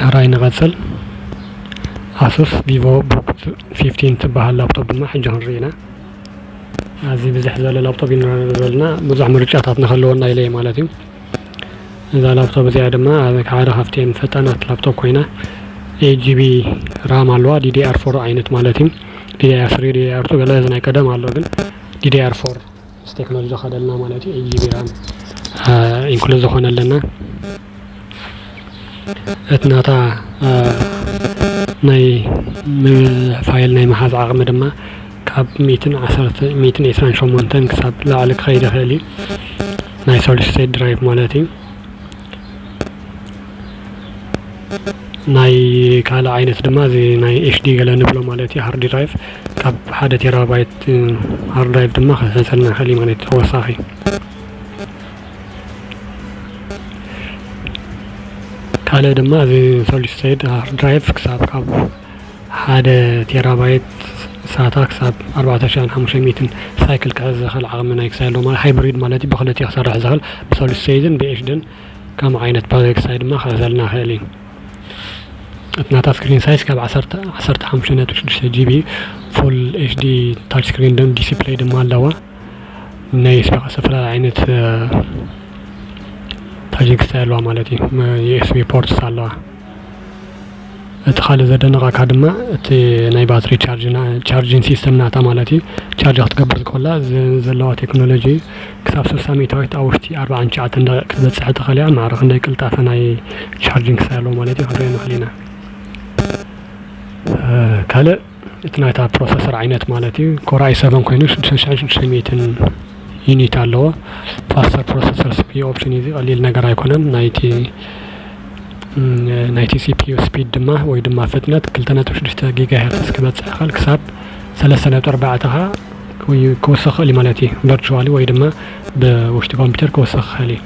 ሕራይ ንቐፅል ኣሱስ ቪቮ ቡክ ፊፍቲን ትበሃል ላፕቶፕ ድማ ሕጂ ክንርኢ ኢና ኣዚ ብዝሕ ዝበለ ላፕቶፕ ኢና ዘለና ብዙሕ ምርጫታት ንክህልወና ኢለ ማለት እዩ እዛ ላፕቶፕ እዚኣ ድማ ሓደ ካብተን ፈጣናት ላፕቶፕ ኮይና ኤት ጂቢ ራም ኣለዋ ዲዲኣር ፎር ዓይነት ማለት እዩ ዲዲኣር ስሪ ዲዲኣር ቱ ገለ እዚ ናይ ቀደም ኣሎ ግን ዲዲኣር ፎር ምስ ቴክኖሎጂ ዝኸድ ኣለና ማለት እዩ። ኤልጂ ቢራ ኢንክሉዝ ዝኾነ ኣለና እቲ ናታ ናይ ፋይል ናይ ምሓዝ ዓቕሚ ድማ ካብ ሚእትን ዓሰርተ ሚእትን ዒስራን ሸሞንተን ክሳብ ላዕሊ ክኸይድ ይኽእል እዩ ናይ ሶሊድ ስቴት ድራይቭ ማለት እዩ። ናይ ካልእ ዓይነት ድማ እዚ ናይ ኤችዲ ገለ ንብሎ ማለት እዩ ሃርድ ድራይቭ ካብ ሓደ ቴራባይት ሃርድ ድራይቭ ድማ ክሕሰልና ይኽእል እዩ ማለት ተወሳኺ ካልእ ድማ እዚ ሶሊድ ስቴት ሃርድ ድራይቭ ክሳብ ካብ ሓደ ቴራባይት ሳታ ክሳብ ኣርባዕተ ሽሕን ሓሙሽተ ሚእትን ሳይክል ክሕዝ ዝኽእል ዓቕሚ ናይ ክሳይ ኣለዎ ማለት ሃይብሪድ ማለት እዩ ብኽልቲኡ ክሰርሕ ዝኽእል ብሶሊስሰይድን ብኤሽድን ከምኡ ዓይነት ፓወር ክሳይ ድማ ክሕዘልና ይኽእል እዩ እቲ ናታ ስክሪን ሳይዝ ካብ ዓሰርተ ዓሰርተ ሓሙሽተ ነጥቢ ሽዱሽተ ጂቢ ፉል ኤሽዲ ታች ስክሪን ደም ዲስፕሌይ ድማ ኣለዋ ናይ ዝተፈላለዩ ዓይነት ታጂንግ ክሳይ ኣለዋ ማለት እዩ ዩኤስቢ ፖርትስ ኣለዋ እቲ ካልእ ዘደንቀካ ድማ እቲ ናይ ባትሪ ቻርጅ ቻርጂን ሲስተም ናታ ማለት እዩ ቻርጅ ክትገብር ከላ ዘለዋ ቴክኖሎጂ ክሳብ ስልሳ ሚእታዊት ኣብ ውሽጢ ኣርብዓን ትሽዓተን ደቂቅ ክትበጽሕ ትኽእል እያ ማዕረ ክንደይ ቅልጣፈ ናይ ቻርጂን ክሳብ ኣለዎ ማለት እዩ ክንሪኦ ንኽእል ኢና ካልእ እቲ ናይታ ፕሮሰሰር ዓይነት ማለት እዩ ኮርኣይ ሰቨን ኮይኑ ሽዱሽተ ሽሕን ሽዱሽተ ሚእትን ዩኒት ኣለዎ ፋስተር ፕሮሰሰር ሲፒዩ ኦፕሽን እዩ እዚ ቀሊል ነገር ኣይኮነን ናይቲ ናይቲ ሲፒዩ ስፒድ ድማ ወይ ድማ ፍጥነት ክልተ ነጥቢ ሽዱሽተ ጊጋ ሄርትስ ክበፅሕ ይኽእል ክሳብ ሰለስተ ነጥቢ ኣርባዕተ ከዓ ክውስኽ ይኽእል እዩ ማለት እዩ ቨርቹዋሊ ወይ ድማ ብውሽጢ ኮምፒውተር ክውስኽ ይኽእል እዩ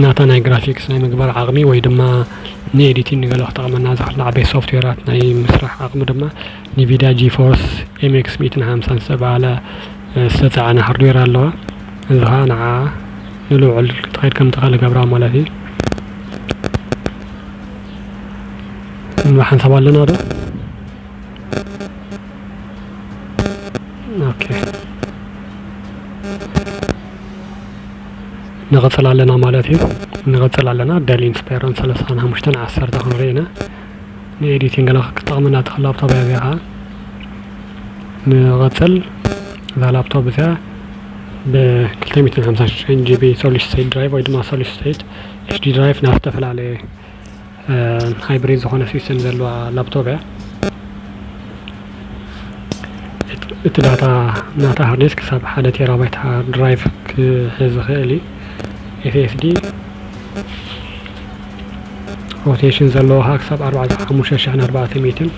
ናታ ናይ ግራፊክስ ናይ ምግባር ዓቕሚ ወይ ድማ ንኤዲቲን ንገለ ክጠቕመና ዝኽእል ዓበይቲ ሶፍትዌራት ናይ ምስራሕ ዓቕሚ ድማ ኒቪዳ ጂፎርስ ኤምኤክስ ሚእትን ሓምሳን ዝተብሃለ ዝተጻዕነ ሃርድዌር ኣለዋ እዚ ኸኣ ንዓ ንልዑል ክትኸይድ ከም ትኽእል ገብራ ማለት እዩ ንሓንሳብ ኣለና ዶ ኦኬ ንቅፅል ኣለና ማለት እዩ ንቅፅል ኣለና ደል ኢንስፓይሮን ሰለስታን ሓሙሽተን ዓሰርተ ክንርኢ ኢና ንኤዲቲንግ ላ ክጠቕመና ትኽእል ላፕቶፕ እያ እዚኣ ከዓ ንቅፅል እዛ ላፕቶፕ እዚኣ ብክልተ ሚእትን ሓምሳን ሽዱሽተን ጂቢ ሶሊድ ስቴት ድራይቭ ወይ ድማ ሶሊድ ስቴት ኤችዲ ድራይቭ ናብ ዝተፈላለየ ሃይብሪድ ዝኾነ ሲስተም ዘለዋ ላፕቶፕ እያ እቲ ዳታ ናታ ሃርዴስ ክሳብ ሓደ ቴራባይት ሃርድ ድራይቭ ክሕዝ ዝኽእል እዩ ኤስኤስዲ ሮቴሽን ዘለዎ ካ ክሳብ ኣርባዕተ ሓሙሽተ ሽሕን ኣርባዕተ ሚትን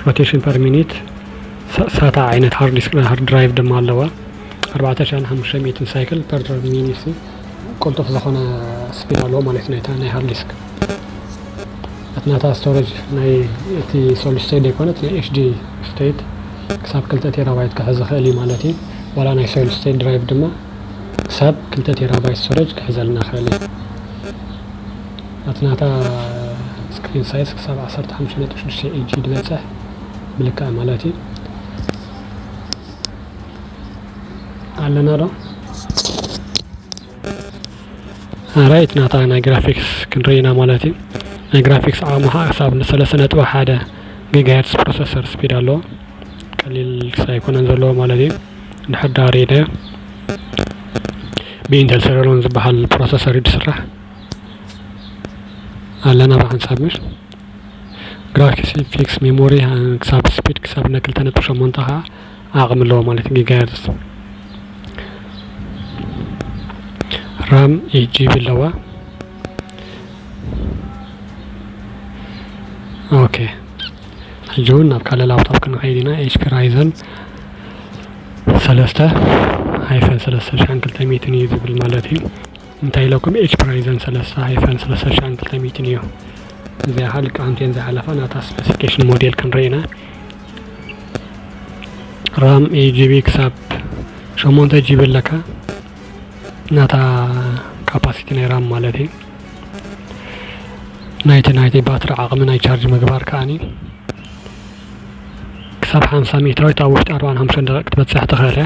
ሮቴሽን ፐር ሚኒት ሳታ ዓይነት ሃርድ ዲስክ ሃርድ ድራይቭ ድማ ኣለዋ ኣርባዕተ ሽሕን ሓሙሽተ ሚትን ሳይክል ፐር ሚኒት ቅልጡፍ ዝኾነ ስፒድ ኣለዎ ማለት እዩ ናይታ ናይ ሃርድ ዲስክ እቲ ናታ ስቶሬጅ ናይ እቲ ሶሉስተይት ዘይኮነት ናይ ኤችዲ ስቴት ክሳብ ክልተ ቴራባይት ክሕዝ ይኽእል እዩ ማለት እዩ ዋላ ናይ ሶሉስተይት ድራይቭ ድማ ክሳብ ክልተ ቴራባይት ስቶሬጅ ክሕዘልና ይኽእል እዩ እቲ ናታ ስክሪን ሳይዝ ክሳብ 15.6 ኢንቺ ዝበፅሕ ምልክኣ ማለት እዩ ኣለና ዶ ኣራይት ናታ ናይ ግራፊክስ ክንርኢ ኢና ማለት እዩ ናይ ግራፊክስ ዓቕሚ ከዓ ክሳብ ንሰለስተ ነጥቢ ሓደ ጊጋሄርትስ ፕሮሰሰር ስፒድ ኣለዎ ቀሊል ኣይኮነን ዘለዎ ማለት እዩ እንድሕር ዳ ሪኢናዮ ብኢንተል ሰለሎን ዝበሃል ፕሮሰሰር እዩ ዝስራሕ ኣለና ብሓንሳብ ምሽ ግራፊክስ ሜሞሪ ክሳብ ስፒድ ክሳብ ነ ክልተ ነጥቢ ሸሞንተ ከዓ ዓቕሚ ኣለዎ ማለት እዩ ጊጋሄርዝ። ራም ኤይት ጂቢ ኣለዋ። ኦኬ ሕጂ እውን ናብ ካልእ ላፕቶፕ ክንኸይድ ኢና ኤችፒ ራይዘን ሰለስተ ሃይፈን ሰለስተ ሽሕን ክልተ ሚእትን እዩ ዝብል ማለት እዩ። እንታይ ኢለኩም ኤች ፕራይዘን ሰለሳ ሃይፈን ሰለሳ ሺሕን ክልተ ሚእትን እዩ እዚኣ ከዓ ልክዓንቲ እየን ዝሓለፋ ናታ ስፔሲፊኬሽን ሞዴል ክንርኢ ኢና ራም ኤት ጂቢ ክሳብ ሸሞንተ ጂቢ ኣለካ ናታ ካፓሲቲ ናይ ራም ማለት እዩ ናይቲ ናይቲ ባትሪ ዓቕሚ ናይ ቻርጅ ምግባር ከዓኒ ክሳብ ሓምሳ ሚእታዊት ኣብ ውሽጢ ኣርባን ሓምሳን ደቂቕ ክትበፅሕ ትኽእል እያ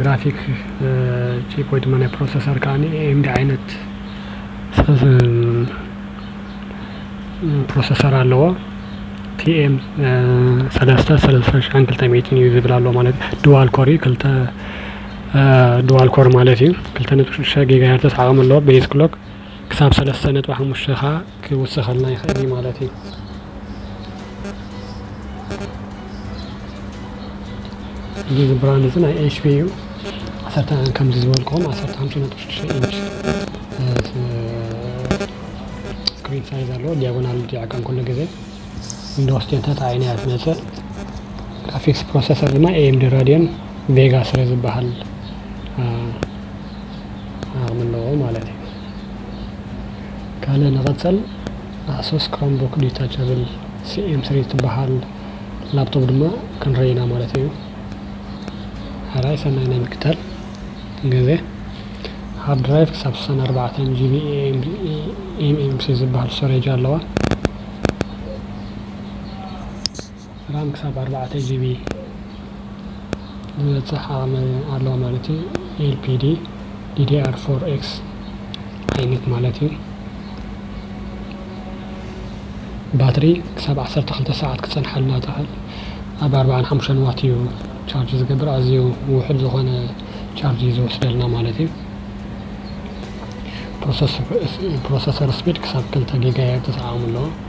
ግራፊክ ቺፕ ወይ ድማ ናይ ፕሮሰሰር ከዓ ኤምዲ ዓይነት ፕሮሰሰር ኣለዎ ቲኤም ሰለስተ ሰለስተ ሽሕን ክልተ ሚእትን እዩ ዝብል ኣሎ ማለት ድዋል ኮር እዩ ክልተ ድዋል ኮር ማለት እዩ ክልተ ነጥቢ ሽዱሽተ ጊጋ ሄርተስ ዓቕሚ ኣለዎ ቤዝ ክሎክ ክሳብ ሰለስተ ነጥቢ ሓሙሽተ ከዓ ክውስኸልና ይኽእል እዩ ማለት እዩ። እዚ እዚ ብራንድ እዚ ናይ ኤችፒ እዩ ዓሰርተ ከምዚ ዝበልክኹም ዓሰርተ ሓምሳ ነጥቢ ሽዱሽተ ኢንች ስክሪን ሳይዝ ኣለዎ ዲያጎናል ዲያቀን ኩሉ ግዜ ዊንዶውስ ቴን ተጣዒና እያ ትመፅእ ግራፊክስ ፕሮሰሰር ድማ ኤኤምዲ ራዲዮን ቬጋ ስለ ዝበሃል ኣቕሚ ኣለዎ ማለት እዩ ካልእ ንቐጸል ኣሱስ ክሮምቡክ ዲታቸብል ሲኤም ስሪ ትበሃል ላፕቶፕ ድማ ክንርኢ ኢና ማለት እዩ። ሕራይ ሰናይ ናይ ምክታል ግዜ ሃርድ ድራይቭ ክሳብ 64 ጂቢ ኤምኤምሲ ዝበሃል ስቶሬጅ ኣለዋ። ራም ክሳብ ኣርባዕተ ጂቢ ዝበጽሕ ዓቕሚ ኣለዎ ማለት እዩ። ኤልፒዲ ዲዲኣር ፎር ኤክስ ዓይነት ማለት እዩ። ባትሪ ክሳብ ዓሰርተ ክልተ ሰዓት ክጸንሓልና ትኽእል። ኣብ ኣርባዓን ሓሙሽተን ዋት እዩ ቻርጅ ዝገብር ኣዝዩ ውሑድ ዝኾነ ቻርጅ እዩ ዝወስደልና ማለት እዩ። ፕሮሰሰር ስፒድ ክሳብ ክልተ ጊጋሄርትስ ዓቕሚ ኣለዎ።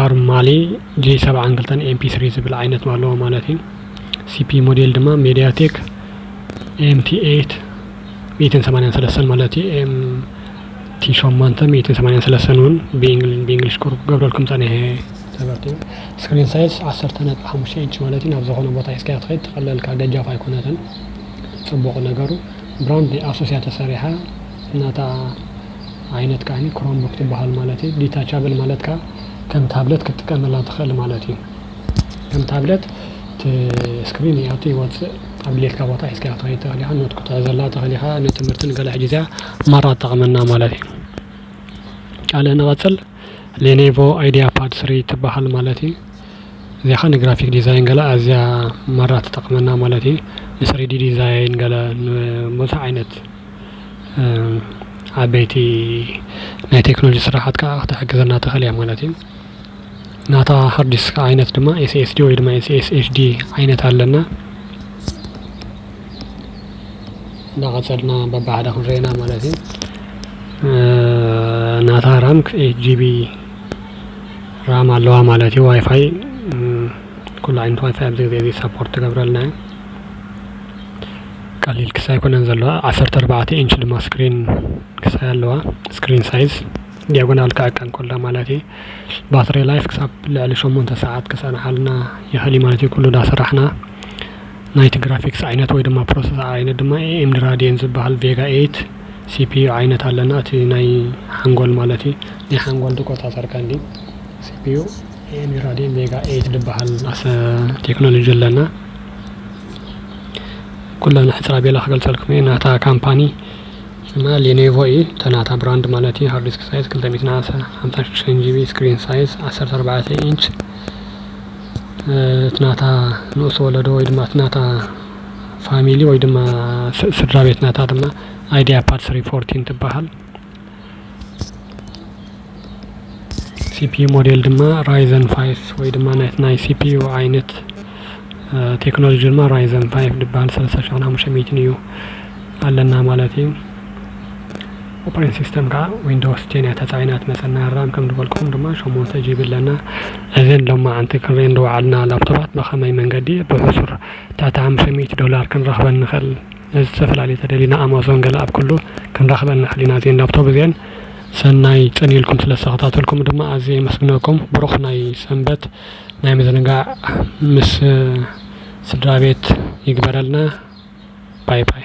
ኣርማሊ ጄ ሰብዓን ክልተን ኤምፒ ስሪ ዝብል ዓይነት ኣለዎ ማለት እዩ ሲፒ ሞዴል ድማ ሜድያ ቴክ ኤምቲ ኤት ሚእትን ሰማንያን ሰለስተን ማለት እዩ ኤምቲ ሸሞንተ ሚእትን ሰማንያን ሰለስተን እውን ብእንግሊሽ ቁርብ ገብረልኩም ፀኒሐ ሰበርቲ እዩ ስክሪን ሳይዝ ዓሰርተ ነጥቢ ሓሙሽተ ኢንች ማለት እዩ ናብ ዝኾነ ቦታ ሒዝካዮ ትኸይድ ትቐለልካ ገጃፍ ኣይኮነትን ፅቡቕ ነገሩ ብራንድ ኣሶስያ ተሰሪሓ እናታ ዓይነት ከኣ ክሮምቡክ ትበሃል ማለት እዩ። ዲታቻብል ማለት ከኣ ከም ታብለት ክትጥቀመላ ትኽእል ማለት እዩ። ከም ታብለት እቲ ስክሪን ይኣቱ ይወጽእ ኣብ ድሌትካ ቦታ ሒዝካዮ ክትኸይድ ትኽእል ኢኻ። ኖት ክትሕዘላ ትኽእል ኢኻ ንትምህርቲ ንገለ ሕጂ እዚኣ ማራ ትጠቕመና ማለት እዩ። ካልእ ንቐጽል ሌኔቮ ኣይድያ ፓድ ስሪ ትበሃል ማለት እዩ። እዚኣ ከኣ ንግራፊክ ዲዛይን ገለ ኣዝያ ማራ ትጠቕመና ማለት እዩ። ንስሪዲ ዲዛይን ገለ ንብዙሕ ዓይነት ዓበይቲ ናይ ቴክኖሎጂ ስራሓት ክዓ ክትሕግዘና ትክእል እያ ማለት እዩ። ናታ ሃርድ ዲስክ ዓይነት ድማ SSD ወይ ድማ SSHD ዓይነት ኣለና። እንዳቀፀልና በብሓደ ክንሪኦ ኢና ማለት እዩ። ናታ ራም ኤይት ጂቢ ራም ኣለዋ ማለት እዩ። ዋይፋይ ኩሉ ዓይነት ዋይፋይ ኣብዚ ግዜ እዚ ሰፖርት ትገብረልና እያ። ቀሊል ክስ ኣይኮነን ዘለዋ ዓሰርተ ኣርባዕተ ኢንች ድማ ስክሪን ክሳይ ኣለዋ ስክሪን ሳይዝ ዲያጎናል ክዕቀ እንከሎ ማለት እዩ ባትሪ ላይፍ ክሳብ ልዕሊ ሸሞንተ ሰዓት ክፀንሓልና ይኽእል እዩ ማለት እዩ ኩሉ ዳሰራሕና ናይቲ ግራፊክስ ዓይነት ወይ ድማ ፕሮሰስ ዓይነት ድማ ኤኤምዲ ራዲየን ዝበሃል ቬጋ ኤይት ሲፒዩ ዓይነት ኣለና እቲ ናይ ሓንጎል ማለት እዩ ናይ ሓንጎል ዝቆፃፀር ቀንዲ ሲፒዩ ኤኤምዲ ራዲየን ቬጋ ኤይት ዝበሃል ቴክኖሎጂ ኣለና ኩለን ሕጽር ኣቢለ ክገልጸልኩም እየ ናታ ካምፓኒ ስማ ሌኔቮ እዩ እተ ናታ ብራንድ ማለት እዩ ሃርዲስክ ሳይዝ ክልተ ሚእትን ሓምሳን ሽዱሽተን ጂቢ ስክሪን ሳይዝ ዓሰርተ ኣርባዕተ ኢንች እቲ ናታ ንኡስ ወለዶ ወይ ድማ እቲ ናታ ፋሚሊ ወይ ድማ ስድራ ቤት ናታ ድማ ኣይዲያ ፓድ ስሪ ፎርቲን ትበሃል ሲፒዩ ሞዴል ድማ ራይዘን ፋይፍ ወይ ድማ ናይቲ ናይ ሲፒዩ ዓይነት ቴክኖሎጂ ድማ ራይዘን ፋይፍ ዝበሃል ሰለስተ ሽሕን ሓሙሽተ ሚእትን እዩ ኣለና ማለት እዩ ኦፕሬቲንግ ሲስተም ከዓ ዊንዶውስ ቴን እያ ተፃዒና ትመፀና ራም ከም ዝበልኩም ድማ ሸሞንተ ጂቢ ኣለና እዘን ሎማዓንቲ ክንሪኤን ዝወዓልና ላፕቶፓት ብኸመይ መንገዲ ብሕሱር ትሕቲ ሓሙሽተ ሚእቲ ዶላር ክንረኽበን ንኽእል ነዚ ዝተፈላለየ ተደሊና ኣማዞን ገለ ኣብ ኩሉ ክንረክበን ሕሊና እዚኤን ላብቶብ እዚኤን ሰናይ ጽን ኢልኩም ስለ ዝተከታተልኩም ድማ ኣዝየ የመስግነኩም ብሩክ ናይ ሰንበት ናይ ምዝንጋዕ ምስ ስድራቤት ይግበረልና ባይ ባይ።